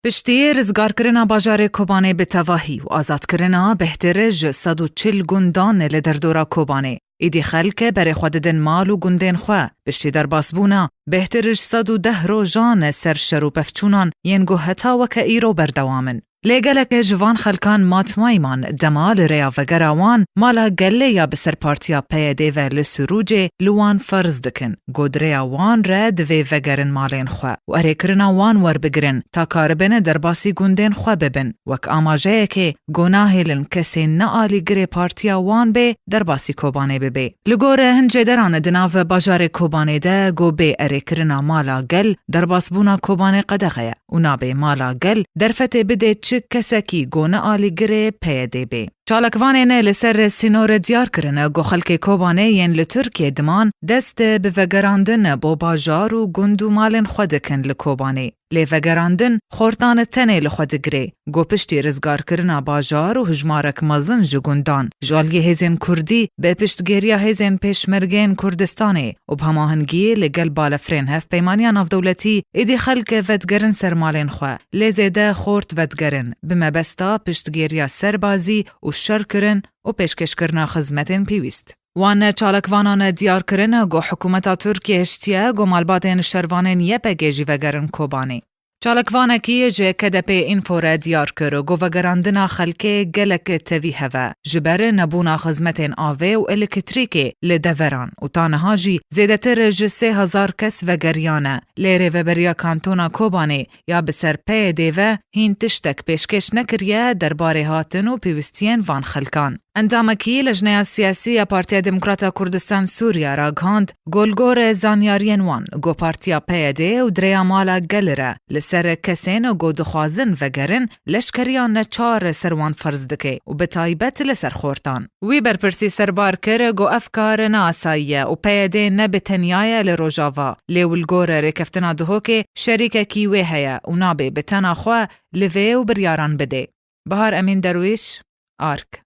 Piştî rizgarkirina bajarê Kobanê bi tevahî û azadkirina bêhtir ji sed û çil gundan li derdora Kobanê, îdî xelk berê xwe didin mal û gundên xwe. Piştî derbasbûna bêhtir ji sed û deh rojan ser şer û pevçûnan yên ku heta weke îro berdewam in, Lê geleke ji van xelkan matmayî man, dema li rêya vegera wan mala gelê ya bi ser partiya PYD'ê ve li Sûrûcê li wan ferz dikin ku di rêya wan re divê vegerin malên xwe û erê kirina wan werbigirin ta karibêne derbasî gundên xwe bibin wek amajeyekê ku nahêlin kesê ne alîgirê partiya wan bê derbasî Kobanê bibê. Li gor hin cêderan di nav bajarê Kobanê de ku bê erêkirina mala gel derbasbûna Kobanê qedexe ye. û nabê mala gel derfetê bidê çi kesekî goni alîgirê PYDê bê. Çalakvanê ne li ser sînore diyar kirine ku xelkê Kobanê yên li Tirkiyê diman dest bi vegerandin bo bajar û gund û malên xwe dikin li Kobanê. Lê vegerandin xortan tenê li xwe digirê ku piştî rizgarkirina bajar û hijmarek mezin ji gundan ji aliyê hêzên Kurdî bi piştgiriya hêzên Pêşmergeyên Kurdistanê û bi hemahengiyê li gel balefirên hevpeymaniya navdewletî êdî xelk vedigerin ser malên xwe, lê zêde xort vedigerin bi mebesta piştgiriya serbazî û şerkirin û pêşkêşkirina xizmetên pêwîst. Wan çalakvanan diyar kirin ku hikûmeta Tirkiyê hiştiye ku malbatên şervanên YPG'ê jî vegerin Kobanê. Çalakvanekî ji KDP Info re diyar kir ku vegerandina xelkê gelek tevî hev e ji ber nebûna xizmetên avê û elektrîkê li deveran û ta niha jî zêdetir ji sê hezar kes vegeriyane lê Rêveberiya Kantona Kobanê ya bi ser PYD ve hîn tiştek pêşkêş nekiriye derbarê hatin û pêwistiyên van xelkan. Endamekî Lejneya Siyasî ya Partiya Demokrata Kurdistan Sûriya ragihand, Ku li gor zanyariyên wan ku partiya PYD û di rêya mala gel re li ser kesên ku dixwazin vegerin leşkeriya neçar ser wan ferz dike û bi taybet li ser xortan. Wî berpirsî serbar kir ku ev kar ne asayî ye û PYD ne bi tenya ye li Rojava, lê û li gor rêkeftina Duhokê şerîkekî wê heye û nabê bi tena xwe li vê û biryaran bidê. Bahar Emîn Derwîş, ark.